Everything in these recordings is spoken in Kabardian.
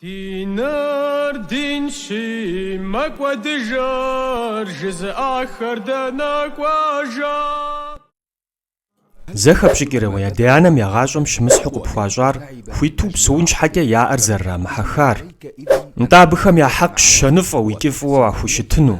Ди нэр динщи, мэкӏуэдыжыр жызыӏахэр дэнэ кӏуэжа? Зэхэпщӏыкӏрэ уи адэ-анэм я гъащӏэм щымысхьу къыпхуащӏар хуиту упсэун щхьэкӏэ я ӏэр зэрырамыхьэхар? Нтӏэ абыхэм я хьэкъщ щэныфӏэу икӏи фӏыуэ уахущытыну,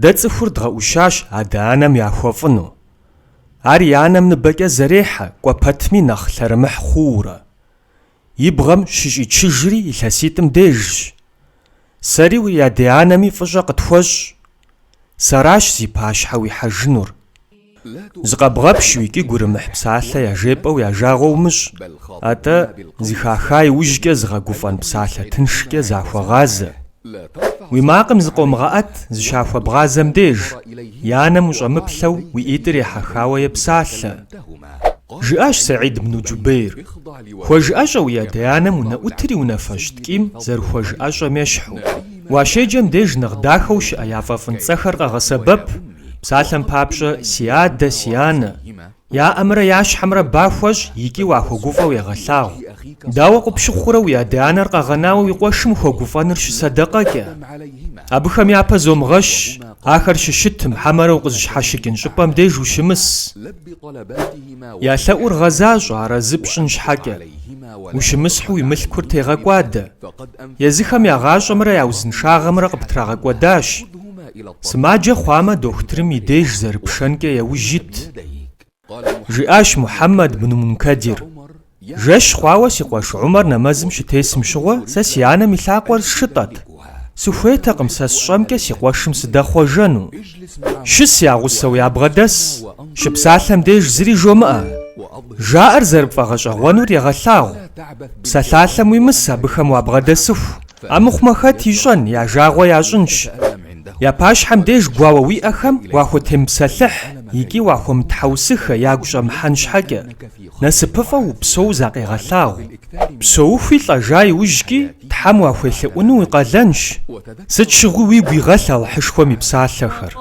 Дэ цӏыхур дгъэӏущащ адэ-анэм яхуэфӏыну. Ар и анэм ныбэкӏэ зэрехьэ кӏуэ пэтми нэхъ лъэрымыхь хъуурэ. И бгъэм щыщӏичыжри илъэситӏым дежщ. Сэри уи адэ-анэми фӏыщӏэ къытхуэщӏ. Сэращ зи пащхьэ уихьэжынур. Зыкъэбгъэпщу икӏи гурымыхь псалъэ яжепӏэу я жагъуэ умыщӏ, атӏэ зыхаха иужькӏэ зыгъэгуфӏэн псалъэ тыншкӏэ захуэгъазэ. Уи макъым зыкъомыгъэӏэт зыщахуэбгъазэм деж, я нэм ущӏэмыплъэу уи ӏитӏыр ехьэхауэ епсалъэ. Жыӏащ Сэид бну Джубейр, Хуэжыӏэщӏэ уи адэ-анэм унэӏутыр и унафэщӏ ткӏийм зэрыхуэжыӏэщӏэм ещхьу. Уащеджэм деж нэхъ дахэу щыӏэ яфӏэфӏын цӏэхэр къэгъэсэбэп, Псалъэм папщӏэ, си адэ, си анэ, я ӏэмрэ я щхьэмрэ ба хуэщӏ икӏи уахуэгуфӏэу егъэлъагъу. Дауэ къыпщыхъурэ уи адэ-анэр къэгъэнауэ уи къуэшым ухуэгуфӏэныр щысэдэкъэкӏэ? Абыхэм япэ зомыгъэщ, ахэр щыщытым, хьэмэрэ укъызыщхьэщыкӏын щӏыпӏэм деж ущымыс. Я лъэӏур гъэзащӏэ арэзы пщӏын щхьэкӏэ. Ущымысхьу уи мылъкур тегъэкӏуадэ. Езыхэм я гъащӏэмрэ я узыншагъэмрэ къыптрагъэкӏуэдащ. Сымаджэ хъуамэ, дохутырым и деж зэрыпшэнкӏэ яужь ит, жиӏащ Мухьэммэд бну Мункэдир. Жэщ хъуауэ си къуэш Умэр нэмэзым щытесым щыгъуэ сэ си анэм и лъакъуэр сшытӏэт. Сыхуейтэкъым сэ сщӏэмкӏэ си къуэшым сыдэхъуэжэну. Щыс я гъусэу ябгъэдэс, щыпсалъэм деж зыри жомыӏэ. Жаӏэр зэрыпфӏэгъэщӏэгъуэнур егъэлъагъу. Псалъалъэм уимыс абыхэм уабгъэдэсыху. Амыхъумэ хэт ищӏэн, я жагъуэ ящӏынщ. Я пащхьэм деж гуауэ уиӏэхэм уахутемыпсэлъыхь икӏи уахуэмытхьэусыхэ ягу щӏэмыхьэн щхьэкӏэ, насыпыфӏэу упсэуу закъегъэлъагъу. Псэухуи лӏэжа иужькӏи Тхьэм уахуелъэӏуну уи къалэнщ, сыт щыгъуи уигу игъэлъ Алыхьышхуэм и псалъэхэр.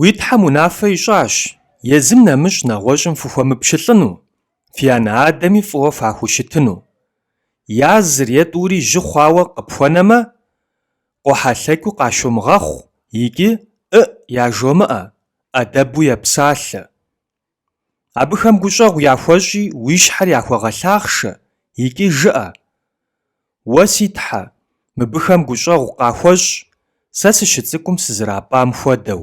Уи Тхьэм унафэ ищӏащ, езым нэмыщӏ нэгъуэщӏым фыхуэмыпщылӏыну, фи анэ-адэми фӏыуэ фахущытыну. Я зыр е тӏури жьы хъуауэ къыпхуэнэмэ, къохьэлъэкӏыу къащомыгъэхъу икӏи ӏыӏ яжомыӏэ, ӏэдэбу епсалъэ. Абыхэм гущӏэгъу яхуэщӏи уи щхьэр яхуэгъэлъахъшэ икӏи жыӏэ, Уэ, си Тхьэ, мыбыхэм гущӏэгъу къахуэщӏ, сэ сыщыцӏыкӏум сызэрапӏам хуэдэу.